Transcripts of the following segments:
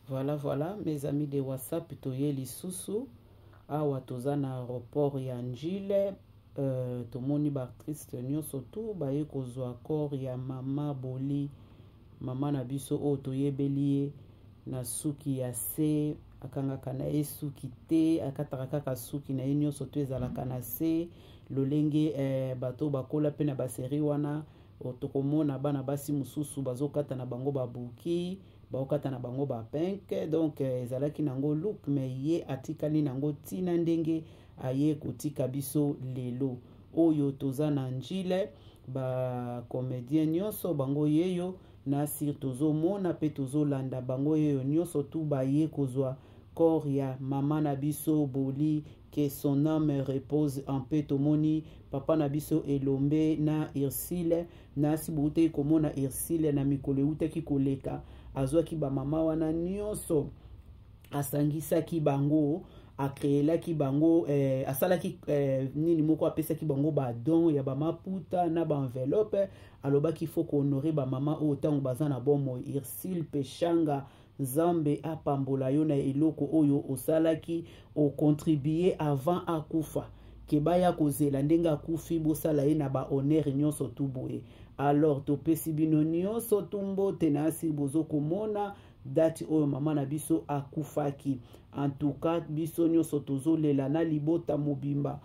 Voilà, voilà, mes amis de WhatsApp, toye lisusu. Awa toza na aéroport ya Njile. Euh, tomoni ba artistes nyonso tout baye kozwa corps ya mama Boli, mama na biso oyo toyebeli ye na suki ya se akangaka na ye suki te akataka kaka suki na ye nyonso to ezalaka na se lolenge eh, bato bakola mpe na baseri wana tokomona bana basi mosusu bazokata na bango babuki baokata na bango ba pink donc euh, ezalaki nango look me ye atikali nango ntina ndenge aye kotika biso lelo oyo toza na njile bacomédien nyonso bango yeyo na sire tozomona mpe tozolanda bango yeyo nyonso tu baye kozwa corps ya mama na biso boli que son âme repose en paix tomoni papa na biso elombe na ursile nasi boutaki komona ursile na mikolo eutaki koleka azwaki bamama wana nyonso asangisaki bango akreelaki bango eh, asalaki eh, nini moko apesaki bango badon ya bamaputa na baenveloppe alobaki fo kohonore bamama oyo ntango baza na bomoi ursile peshanga Nzambe apambola yo na eloko oyo osalaki ocontribue avant akufa ke baya kozela ndenge akufi bosala ye na bahonneur nyonso tu boye alors topesi bino nyonso tu mbote na asili bozokomona dati oyo mama na biso akufaki antuka biso nyonso tozolela na libota mobimba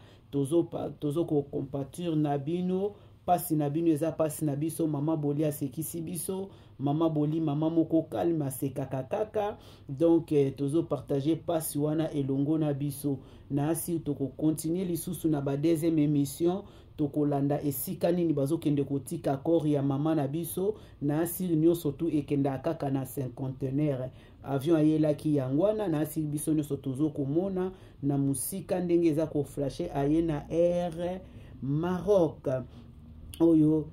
tozokocompature tozo na bino pasi na bino eza pasi na biso mama boli asekisi biso mama boli mama moko kalme asekaka kaka donk eh, tozopartage pasi wana elongo na biso na asi tokokontinue lisusu na badeuxième émission tokolanda esika nini bazokende kotika kore ya mama na biso na asili nyonso tu ekendaka kaka na cinquantenaire avion ayelaki yango wana nasi biso nyonso tozokomona na mosika ndenge eza koflashe aye na air maroc oyo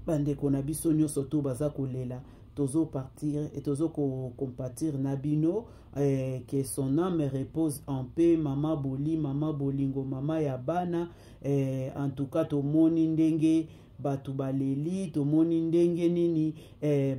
bandeko na biso nyonso to baza kolela tozopartir e tozokocompatir na bino eh, que son âme repose en paix mama boli mama bolingo mama ya bana eh, en tout cas tomoni ndenge bato baleli tomoni ndenge nini eh,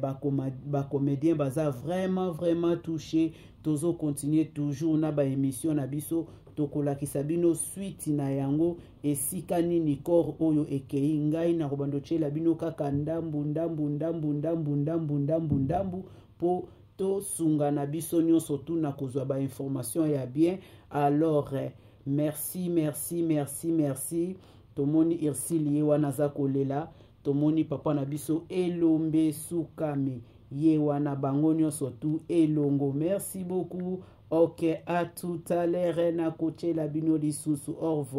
bacomédien ba baza vraiment vraiment touché tozo continue toujours na baémission na biso tokolakisa bino suite na yango esika nini corps oyo ekei ngai nakobanda otyela bino kaka ndambu ndambu ndambu ndambu ndambu ndambu ndambu mpo tosunga na biso nyonso tuna kozwa bainformation ya bien alors eh, merci merci merci merci tomoni ursile ye wana aza kolela tomoni papa na biso elombe sukami ye wana bango nyonso tu elongo merci beaucoup ok à tout à l'heure nakotyela bino lisusu au revoir